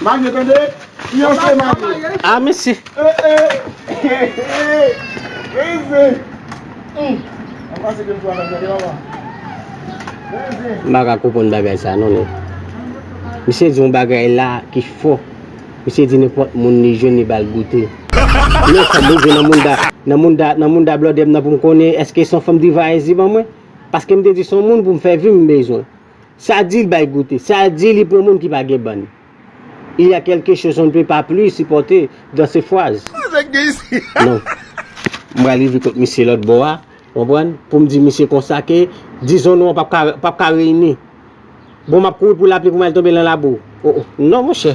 Mage tande fiyanse mage. Ah mesi. M pa ka konprann bagay sa non nèt. Misye di yon bagay la ki fo. Misye di nenpòt moun li jwenn li ba l goute. Men sa m bezwen nan mounda nan mounda nan mounda blòdè m nan pou m konnen èske son fanm Diva Enzi ban mwen. Paske m te di son moun pou m fè vim m bezwen. Sa di l bay goute. Sa di li pran moun ki pa gen bann. Il y a quelque chose on ne peut pas plus supporter dans ce fraz. Non. M pral rive kot misye lòt bò a, ou konprann, pou m di misye konsa ke dizon nou an p ap ka reyini. Bon, m ap kouri pou lapli pou m al tonbe lan labou. O o, non monchè.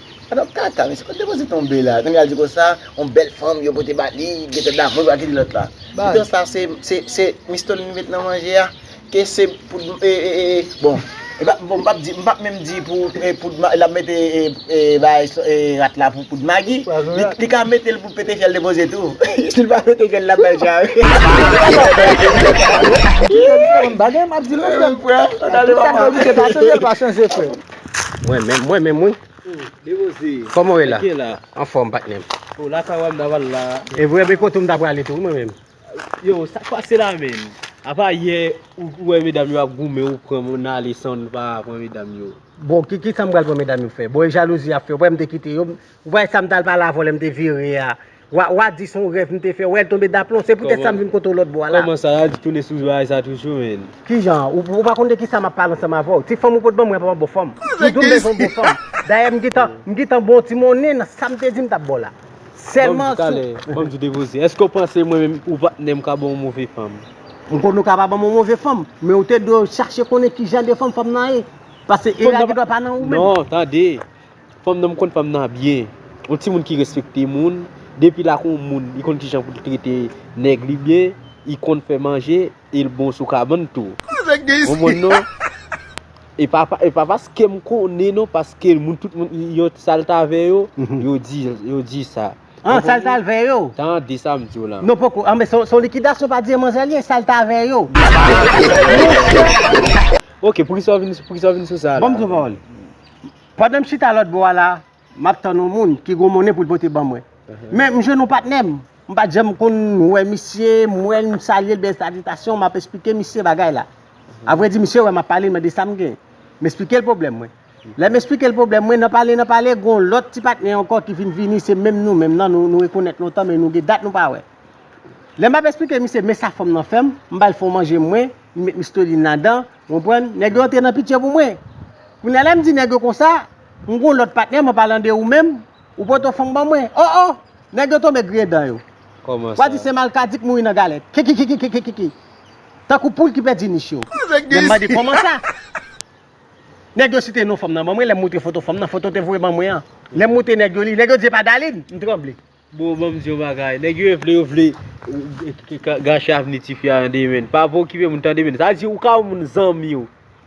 An nou kaka mesye kot depoze tonbe la kounye al di konsa yon bèl fanm yo pote ba li li gentan damou li pral kite lòt la pito sa se mistol li met nan manje a ke se poud bon m pap di m pap menm di pou lap mete rat la pou poud magi li ka metel pou pete fyèl depoze tou sil pa pete fyèl lap bay chaj bagay m ap di nou frèm tout sa m ap di se pa chanje l pa chanje frèm Mwen menm, mwen menm wi. Dewoze. Koman ou ye la? Mwen byen la. Anfòm patnè m. O la sa wè m nan wal la. E vre men kote m ta prale tou mwen menm. Yo, sa k pase la menm? Apa yè ou wè medam yo ap goumen ou pran moun nan ale san ou pa pran medam yo. Bon, ki sa m pral pran medam yo fè? Bon e jalouzi y ap fè. Ou pa wè m te kite yo? Ou pa wè sa m t al pale avè w lè m te vire a? Wa wa di son rèv m te fè wè l tonbe daplon se poutèt sa m vin kote w lòtbò a la. Kòman sa Ralph tounen sou bagay sa toujou menn. Kijan? Ou pa konn de kisa map pale ansanm avèw? Ti fanm ou pot banm mwen pa banm bon fanm. Ou dim bezwen bon fanm. Dayè m gentan m gentan bon ti monnen nan sam te di m tap baw la. Sèlman sou Banm di depoze. Èske ou panse mwen menm ou patnè m ka banw yon move fanm? M konnen ou ka pa banm yon move fanm, men ou te dwe chache konnen kijan de fanm fanm nan ye. Pase era gen dwa pa nan ou menm. Non, tande. Fanm nan m konn fanm nan byen. Yon timoun ki respekte moun. Depi l ak yon moun, li konn ki jan pou l trete nèg li byen. Li konn fè manje e l bon sou kabann tou. Ou konprann non? E pa paske m konnen non, paske tout moun yo sa l t avè yo, yo di sa. An, sa l t avè yo? Tande sa m di w la. Non poko. Anben, se yon likidasyon pa di manzè li ye, sa l t avè yo. Monchè! Ok, poukisa w vin sou sa la? Ban m di yon pawòl. Pandan m chita lòt bò a la, m ap tann yon moun ki gwo monnen pou l pote ban mwen. Men, m jwenn yon patnè m. M pa t janm konn wè misye, m wè l, m salye l byen salitasyon, m ap esplike misye bagay la. Avrèdi, misye wè m ap pale, l mande sa m gen. M esplike l pwoblèm mwen. Lè m esplike l pwoblèm mwen, nan pale nan pale, gen yon lòt ti patnè ankò ki vin vini, se menm nou menm nan, nou rekonèt lontan men nou gen dat nou pa wè. Lè m ap esplike misye men sa fanm nan fè m, m ba l fon manje mwen, li met misteline ladan, Ou konprann? Nèg yo antre nan pitye pou mwen. Kounye a lè m di nèg yo konsa, m gen yon lòt patnè, m an palan de ou menm, ou poto fanm ban mwen. O o! Nèg yo tonbe griyen dan yo. Kòman sa? Wa di se malkadi k mouri nan galèt. Kikikikikikiki! Tankou poul ki pèdi nich yo. Lè m mande kòman sa? Nèg yo site non fanm nan ban mwen, lè m moutre foto fanm nan, foto te voye ban mwen an. Lè m moutre nèg yo li, nèg yo di se pa Dalin! M tranble. Bro banm di yon bagay nèg yo vle yo vle gache avni ti fi a nan 2 men pa vle okipe moun tande men sa vle di ou ka wè moun zanmiw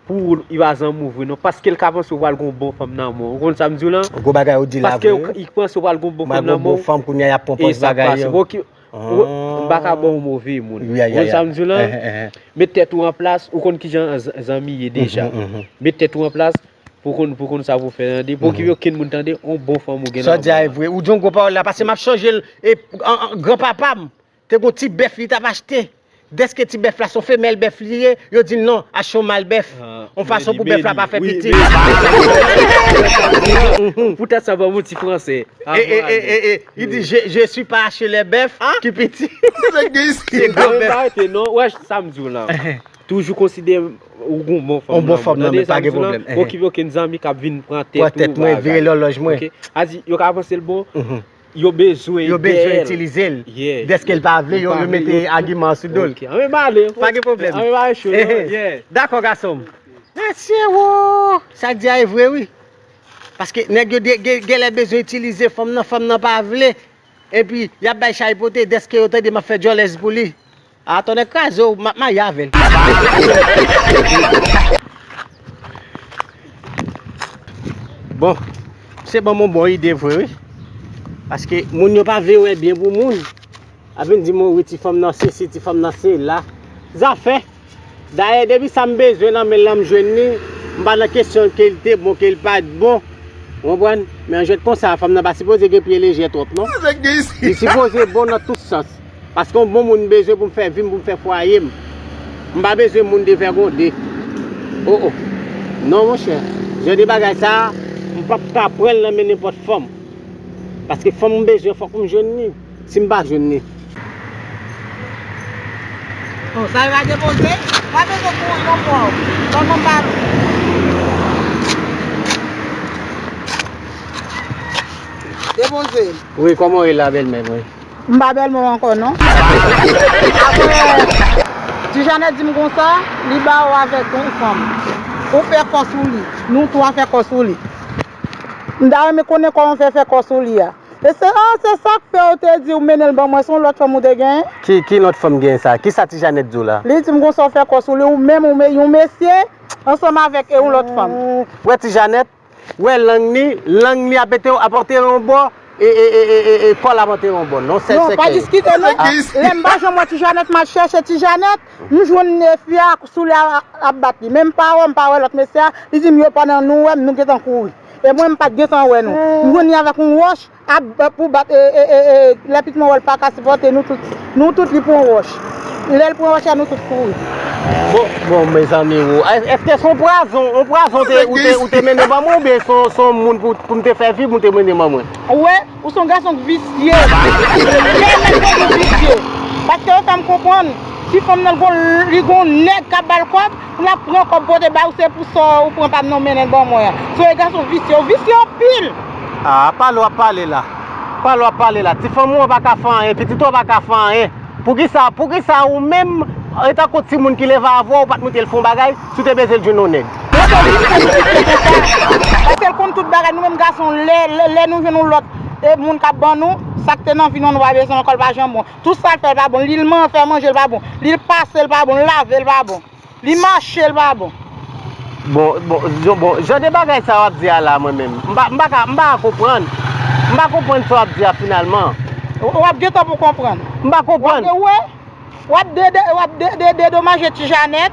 pou ou li pa zanmiw vre non paskel ka panse ou pral gen yon bon fanm nan menw ou konn sam diw la paske li k panse ou pral gen yon bon fanm nan menw e sa k pase bon ki m paka baw yon move moun ou konn sam diw la met tèt ou anplas ou konn kijan zanmi ye deja met tèt ou anplas Pou konn pou konn sa pou fè tande pou okipe okenn moun tande on bon fanm ou gen nan. Sa w di a e vre ou di yon gwo pawòl la pase map chanje l e gran papa m te gon ti bèf li tap achte dèske ti bèf la son femèl bèf li ye yo di l non achte yon mal bèf on fason pou bèf la pa fè pitit pou tèt sa banm yon ti fransè e li di je si pa achte lè bèf ki piti se gran bèf ou wè sa m di w la. Toujou konsidere ou gon bon fanm nan. On bon fanm nan men pa gen pwoblèm. Ou ki vle ken zanmi kap vin pran tèt ou. Pran tèt mwen, vire lòlòj mwen. A di yo ka panse l bon, yo bezwen dèyè l. Yo bezwen itilize l. Dèske l pa vle yo mete agiman sou do l. Ok, anmwe m ale. Pa gen pwoblèm. Anmwe m ale cho. Dakò gason m. Mesye woo! Sa di a e vre wi. Paske nèg yo genlè bezwen itilize fanm nan, fanm nan pa vle. Epi yap bay chay pote dèske yo tande map fè djòlèz pou li. Ah tonnè kraze w map marye avel. Bon misye banm yon bon ide vre wi paske moun yo pa vle wè byen pou moun ap vin di mwen wi ti fanm nan sesi ti fanm nan sela zafè dayè depi sam bezwen nan menl lan m jwenn li m pa nan kesyon kel te bon kel pat bon ou konprann men yon jwèt konsa fanm nan pa sipoze gen pye lejè twòp non li sipoze bon nan tout sans. Paske yon bon moun m bezwen pou m fè vi m, pou m fè fwaye m. M pa bezwen moun devègonde. O o. Non monchè. Jan de bagay sa a, m pap ka pran l nan men nenpòt fanm. Paske fanm m bezwen fòk m jwenn li. Si m pa jwenn li. O, sa yo va depoze? M pa bezwen pou ou non mò. Ban m anba nou. Depoze. Wi, kòman ou ye la bèlmè mwen? M pa Belmont ankò non. Aprè Tijane di m konsa, li ba ou avèk yon fanm. Ou fè kò sou li. Nou twa fè kò sou li. M ta renmen konnen kòman w fè fè kò sou li a. E se, ah, se sa k fè ou te di ou mennen l ban mwen. Se yon lòt fanm ou te genyen? Ki, ki lòt fanm genyen sa? Ki sa ti Janèt di w la? Li di m konsa ou fè kò sou li, ou menm, yon mesye ansanm avèk yon lòt fanm. Ou wè ti Janèt? wè lang li, lang li ap ete ap antere yon bò e e kòl ap antere yon bò non sèl sèkèy yo a lèm m pa janm wè ti janèt mal chèche ti janèt m jwenn fi a sou li ap bat li menm pa wè m pa wè lòt mesye a li di m yo pandan nou wè m nou gentan kouri e mwen m pat gentan wè nou m jwenn li avèk yon wòch. Ap bat pou bat eeeee lè pit monròl paka sipòte nou tout nou tout li pran wòch lèl pran wòch la nou tout kouri. Bon mezanmi ou eske son pwazon on pwazon te ou te mennen ban mwen ou byen son son moun poum te fè vib ou te mennen ban mwen. Ou wè ou son gason k visye lè ou menm tout ou visye paske ou fèm konprann ti fanm nan li gon nèg kap bal kòb. Pou lap pran kob pote baw se pou sa ou pran pam nan mennen ban mwen an. Zoe gason visye ou visye anpil. Aa pale wap pale la. Pale wap pale la ti fanm ou an paka fè anyen pitit ou an paka fè anyen poukisa poukisa ou menm etankou timoun ki leve avèw ou pat moutel fon bagay si ou te bezwen jwenn yon nèg. Mwen kwè wi se pitit li konsa paskel konn tout bagay nou menm gason lè nou jwenn yon lòt moun kap ban nou sak te nan vi nou an nou pa bezwen ankò li pa janm bon Tout sak fèl pa bon lil man fè manjel pa bon lil pasel pa bon lavel pa bon li machel pa bon. Bon bon jon bon jan de bagay sa wap di a la mwen menm m pa m pa ka m pa ka konprann m pa konprann sa wap di a finalman. Wap gentan pou konprann. M pa konprann. Wap de wè wap de wap de de dedomaje ti Janèt.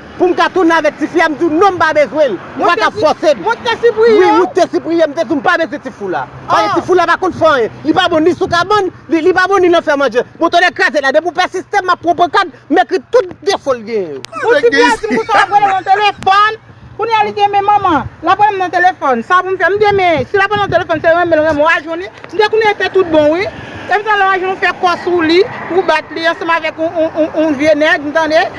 pou m ka tounen avèk tifi a m di w non m pa bezwen l ou pa ka fòse m Wout te sipriye wi Wout te sipriye m te di w m pa bezwen ti fou la paske ti fou la pa konn fè anyen li pa bon ni sou kabann li pa bon ni nan fè manje bon tonnè kraze la depi w pèsiste m ap pran pankad m ekri tout defo l genyen yo Pou tifi a di m konsa l ap rele m nan telefòn kounye a li gen men manman l ap rele m nan telefòn sa pou m fè m gen men si l ap rele m nan telefòn se renmen l renmen w ajouni m te konnen l te tout bon wi epi tou lè w ajouni w fè kò sou li ou bat li ansanm avèk yon vye nèg m tande.